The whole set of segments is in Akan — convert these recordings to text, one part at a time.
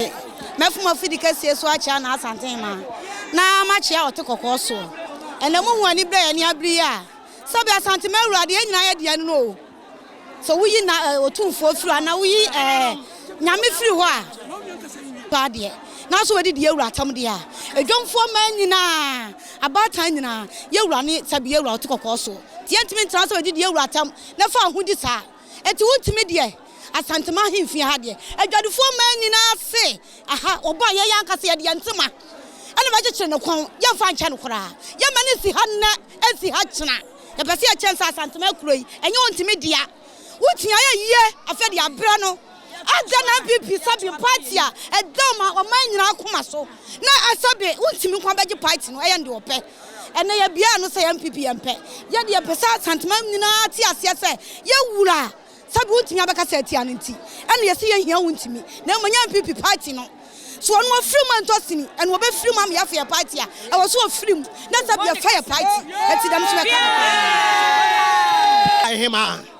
me, mɛfom afidi kɛseɛ so akyea n'asanten maa, na makyea ɔte kɔkɔɔ soɔ. Ɛnnɛ mohu aniberɛ a yɛne abere yi a, sɛbe Asanteman Awurade, yɛn nyinaa yɛde yɛn ano o, sɛ woyi na eh, Otumfoɔ firi hɔ anaa woyi eh, Nyame firi hɔ a, paa deɛ, nanso wɔde di yɛwura atam deɛ a, adwamfoɔ mmaa nyinaa, abaatan nyinaa, yɛwura ne sɛbe yɛwura ɔte kɔkɔɔ soɔ, nti yɛntumi ntena sɛ wɔde di yɛwura atam na fa ahodi saa. Enti wo ntumi deɛ Asantema ahemfie ha deɛ adwadifoɔ mmaa nyinaa se aha wɔbɔ a yɛyɛ ankasa yɛde yɛn ntoma ɛna bɛkyekyere ne kɔn yɛmfa nkyɛ no koraa yɛma no nsi ha nnɛ ɛnsi ha kyena yɛpɛ sɛ yɛkyɛn sɛ Asantema kuro yi ɛnyɛ wo ntumi dea wotua yɛ yie afei de abrɛ no Adɛn na NPP sɛbe party a ɛda ɔman ɔman nyinaa koma so na ɛsɛbe wontumi nko abɛgye party no ɛyɛ no deɛ ɔpɛ ɛnɛ yɛbiaa no sɛ NPP yɛmpɛ yɛ deɛ yɛpɛ sɛ Asanteman nyinaa te aseɛ sɛ yɛ wura sɛbe wontumi abɛka sɛ atia no nti ɛna yɛsi yɛ hia wontumi na mmom nyɛ NPP party no so ɔno ɔfiri mu ɛntɔ sini ɛna ɔbɛfiri mu ama yɛafa yɛ party a ɛwɔ so ɔfiri mu na sɛbe yɛfa yɛ party ɛti dɛm so bɛka no paa. Ahema.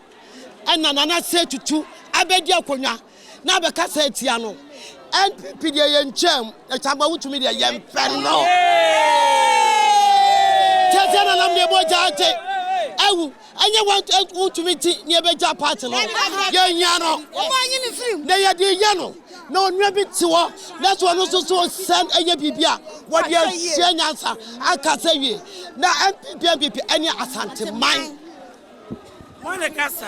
ɛna Nana Sey Tutu abɛdi akonnwa na abɛkasa atia no. NPP deɛ yɛntwaam na Kyagba wotumi deɛ yɛmpɛ no. Tiatia na nam deɛ mogya ate awu ɛnyɛ wotumi ti na yɛbɛgya party no. Yɛhia no na yɛde yɛ no. na onua bi te hɔ na sɛ ɔno nso so sɛ ɛyɛ biribi a wɔde ahyia nyansa akasa wie na npp npp ɛne asanteman. Wɔn ne kasa.